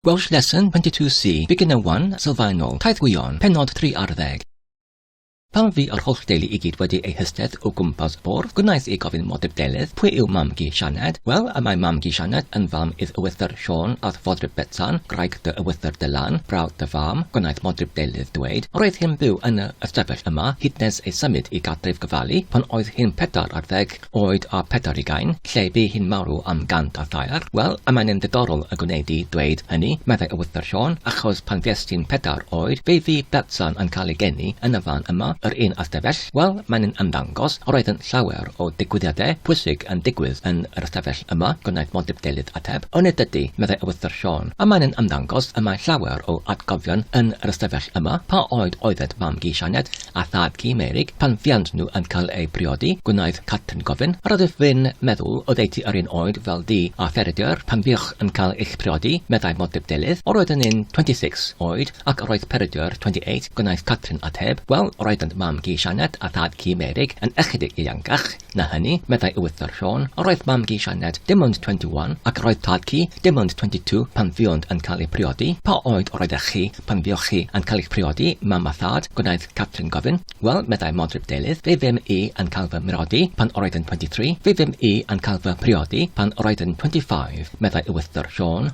Welsh Lesson 22C, Beginner 1, Sylfaenol, Taith Gwion, Pennod 3 ar ddeg. Pan fu yr holl deulu i gyd wedi eu hystedd o gwmpas bwrdd, gwnaeth i gofyn modeb Delyth, pwy yw mam-gu Sianed? Wel, y mae mam-gu Sianed yn fam idd Ywythr Siôn ath fodryb Betsan, graig dy Ywythr dy Lan, brawd dy fam, gwnaeth modryb Delyth dweud, roedd hi'n byw yn yr ystafell yma hyd nes ei symud i gartref Gyfali pan oedd hi'n pedair ar ddeg, oed a phedair ugain, lle bu hi'n marw am gant a thair. Wel, a mae'n yn ddiddorol y gwneud di dweud hynny, meddai Ewythr Siôn, achos pan fues ti'n pedair oed, fe fu Betsan yn cael ei geni yn y fan yma, yr un â Stefell. Wel, mae'n yn ymddangos, roeddent llawer o ddigwyddiadau pwysig yn digwydd yn yr ystafell yma, gwnaeth Modip Delyth ateb. O nid ydy, meddai Ewythr Siôn, a mae'n yn ymddangos y mae llawer o atgofion yn yr ystafell yma. Pa oed oeddet mam-gu Sianed? a thad ci Meurig, pan fuant nhw yn cael eu priodi, gwnaeth Catrin gofyn, Yr ydych f'un meddwl oddeutu yr un oed fel du a Pheredur pan fuoch yn cael eich priodi? meddai Modryb Delyth. Yr oeddwn i'n twenty six oed, ac yr oedd Peredur twenty eight, gwnaeth Catrin ateb. Wel, roeddent mam-gu Sianet a thad-cu Meurig yn ychydig ieuangach. Na hynny, meddai Ewythr Siôn, yr oedd mam-gu Sianed dim ond 21 ac yr oedd tad-cu dim ond 22 pan fuont yn cael eu priodi. Pa oed yr oeddech chi pan fuoch chi yn cael eich priodi, mam a thad? gwnaeth Catherine gofyn. Wel, meddai Modryb Delyth, fe fum i yn cael fy mriodi pan yr oedd yn 23. Fe fum i yn cael fy mhriodi pan yr oedd yn 25, meddai Ewythr Siôn.